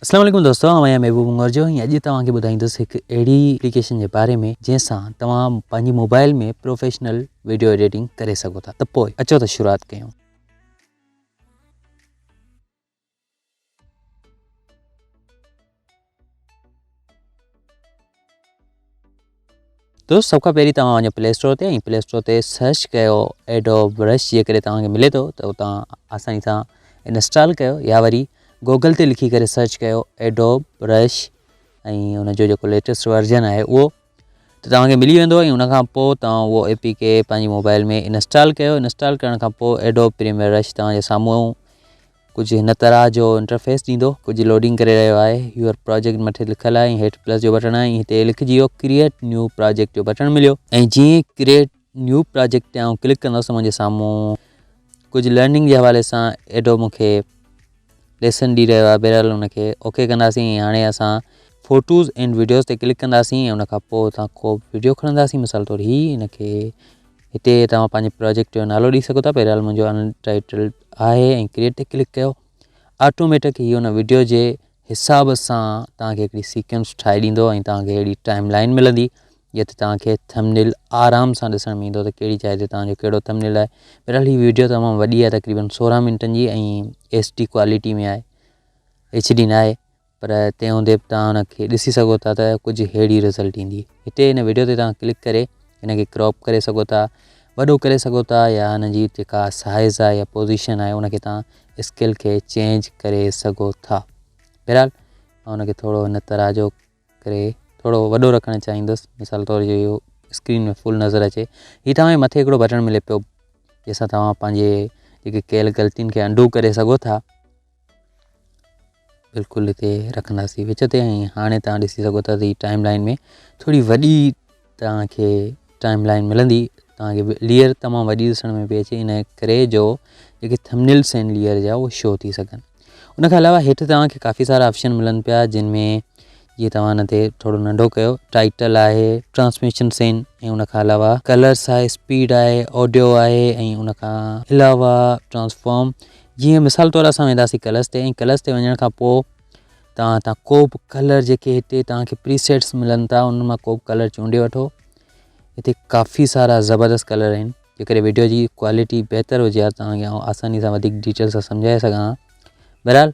اسلام عليڪم دوستو آئون آهيان محبوب مورجو ۽ اڄ توهان کي ٻڌائيندس هڪ اهڙي اپليڪيشن جي باري ۾ جنهن سان توهان پنهنجي موبائل ۾ پروفيشنل ويڊيو ايڊيٽنگ ڪري سگهو ٿا ته پوء اچو ته شروعات ڪيون دوست سڀ کان پهرين توهان وڃو پلي اسٽور تي ۽ پلي اسٽور تي سرچ ڪيو ايڊو برش جيڪڏهن توهان کي ملي ٿو ته اتان آساني سان انسٽال ڪيو يا وري گوگل تي لکي ڪري سرچ ڪيو ايڊو برش ۽ ان جو جيڪو ليٽيسٽ ورجن آهي اهو ته توهانکي ملي ويندو ۽ ان کان پوء توهان اهو اي پي کے پنهنجي موبائل ۾ انسٽال ڪيو انسٽال ڪرڻ کان پوء ايڊو پريميئر رش توهان جي سامهون ڪجهه هن طرح جو انٽرفيس ڏيندو. ڪجهه لوڊنگ ڪري رهيو آهي. Your Project مٿي لکيل آهي ۽ هيٺ پلس جو بٽڻ آهي ۽ هتي لکجي ويو Create New Project جو بٽڻ مليو. ۽ جيئن ئي Create New Project تي آئون ڪلڪ ڪندس ته منهنجي سامهون ڪجهه لرننگ جي حوالي سان Adobe مون کي ليسن ڏئي رهيو آهي بهرحال ان کي اوڪي ڪنداسين ۽ هاڻي اسان فوٽوز اينڊ وڊيوز تي ڪلڪ ڪنداسين ۽ ان کان پوء اتان ڪو به وڊيو کڻنداسين مثال طور هي ان کي هتي توهان پنهنجي پروجيڪٽ جو نالو ڏئي سگهو ٿا بهرحال منهنجو انٽائيٽلڊ آهي ۽ ڪريئٽ تي ڪلڪ ڪيو آٽوميٽڪ هي ان وڊيو جي حساب سان توهان کي هڪڙي سيڪوينس ٺاهي ڏيندو ۽ توهان کي اهڙي ٽائم لائن ملندي جنهن تي توهان کي ٿمنيل آرام سان ڏسڻ ۾ ايندو ته ڪهڙي جاء تي توهان جو ڪهڙو ٿمنيل آهي بهرحال هي ويڊيو تمام وڏي آهي تقريبن سورهن منٽن جي ۽ ايس ڊي ڪوالٽي ۾ آهي ايچ ڊي ناهي پر تنهن هوندي به توهان ان کي ڏسي سگهو ٿا ته ڪجهه ههڙي رزلٽ ايندي هتي هن ويڊيو تي توهان ڪلڪ ڪري هن کي ڪراپ ڪري سگهو ٿا وڏو ڪري سگهو ٿا يا هن جي جيڪا سائز آهي يا پوزيشن آهي ان کي توهان اسڪيل کي چينج ڪري سگهو ٿا بهرحال مان ان کي ٿورو هن طرح جو ڪري ٿورو وڏو رکڻ چاهيندس مثال طور جو اهو اسڪرين ۾ فل نظر اچي هي توهان مٿي هڪڙو بٽڻ ملي پيو جنهن سان توهان پنهنجي جيڪي ڪيل غلطين کي انڊو ڪري سگهو ٿا بلڪل هتي رکنداسين وچ تي ۽ هاڻي تان ڏسي سگهو ٿا ته هي ٽائيم لائين ۾ ٿوري وڏي توهان کي ٽائيم لائين ملندي توهان کي ليئر تمام وڏي ڏسڻ ۾ پئي اچي ان ڪري جو جيڪي ٿمنيلس آهن ليئر جا اهي شو ٿي سگهن ان کان علاوه هيٺ توهان کي ڪافي سارا آپشن ملن پيا جن ۾ جيئن توهان هن تي ٿورو ننڍو ڪيو ٽائٽل آهي ٽرانسميشن سين ۽ ان کان علاوه ڪلرس آهي اسپيڊ آهي آڊيو آهي ۽ ان کان علاوه ٽرانسفارم جيئن مثال طور اسان وينداسي ڪلرس تي ۽ ڪلرس تي وڃڻ کان پوء توهان تان ڪو به ڪلر جيڪي هتي توهان کي پري سيٽس ملن ٿا ان مان ڪو به ڪلر چونڊي وٺو هتي ڪافي سارا زبردست ڪلر آهن جيڪڏهن ويڊيو جي ڪوالٽي بهتر هجي ها توهان کي آساني سان وڌيڪ ڊيٽيل سان سمجهائي سگهان ها بهرحال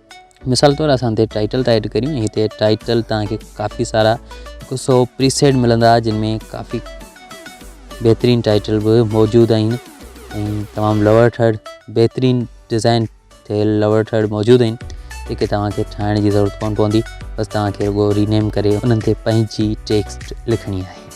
مثال طور اسان هتي ٽائٽل ٿا ايڊ ڪريون هتي ٽائٽل توهان کي ڪافي سارا هڪ سو پريسيٽ ملندا جن ۾ ڪافي بهترين ٽائٽل به موجود آهن ۽ تمام لور ٿرڊ بهترين ڊيزائن ٿيل لور ٿرڊ موجود آهن جيڪي توهان کي ٺاهڻ جي ضرورت ڪون پوندي بس توهان کي رڳو رينيم ڪري انهن تي پنهنجي ٽيڪسٽ لکڻي آهي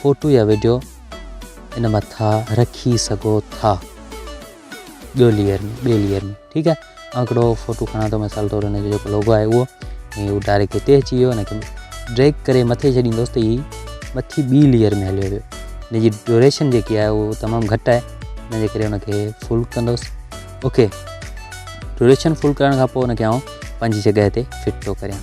فوٽو يا وڊيو ان مٿا رکي سگهو ٿا ٻيو ليئر ۾ ٻي ليئر ۾ ٺيڪ آهي آن هڪڙو فوٽو کڻا ٿو مثال طور ان جو جيڪو لوگو آهي اهو ۽ اهو ڊائريڪٽ هتي اچي ويو ان کي ڊريگ ڪري مٿي ڇڏيندوس ته هي مٿي ٻي ليئر ۾ هليو ويو ان جي ڊيوريشن جيڪي آهي اهو تمام گهٽ آهي ان جي ڪري ان کي فل ڪندوس اوڪي ڊيوريشن فل ڪرڻ کان پوء ان کي آئون پنهنجي جڳهه تي فٽ ٿو ڪريان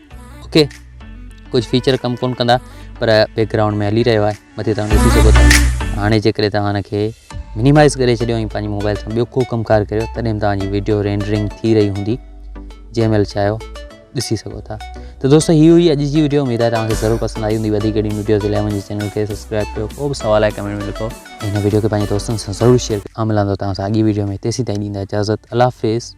اوڪي ڪجهه فيچر ڪم ڪون ڪندا پر بيڪ گرائونڊ ۾ هلي رهيو آهي مٿي توهان ڏسي سگهو ٿا هاڻي جيڪڏهن توهان هن کي مينيمائز ڪري ڇڏيو ۽ پنهنجي موبائل سان ٻيو ڪو ڪم ڪار ڪريو تڏهن به توهانجي ويڊيو رينڊرنگ ٿي رهي هوندي جنهن مهل چاهيو ڏسي سگهو ٿا ته دوستو هي هئي اڄ جي ويڊيو اميد آهي توهانکي ضرور پسند آئي هوندي وڌيڪ اهڙي ويڊيوز لاء منهنجي چينل کي سبسڪرائب ڪيو ڪو به سوال آهي ڪمينٽ ۾ لکو هن ويڊيو کي پنهنجي دوستن سان ضرور شيئر ڪيو ملندو توهان سان اڳي ويڊيو ۾ تيسين تائين ڏيندا اجازت الله حافظ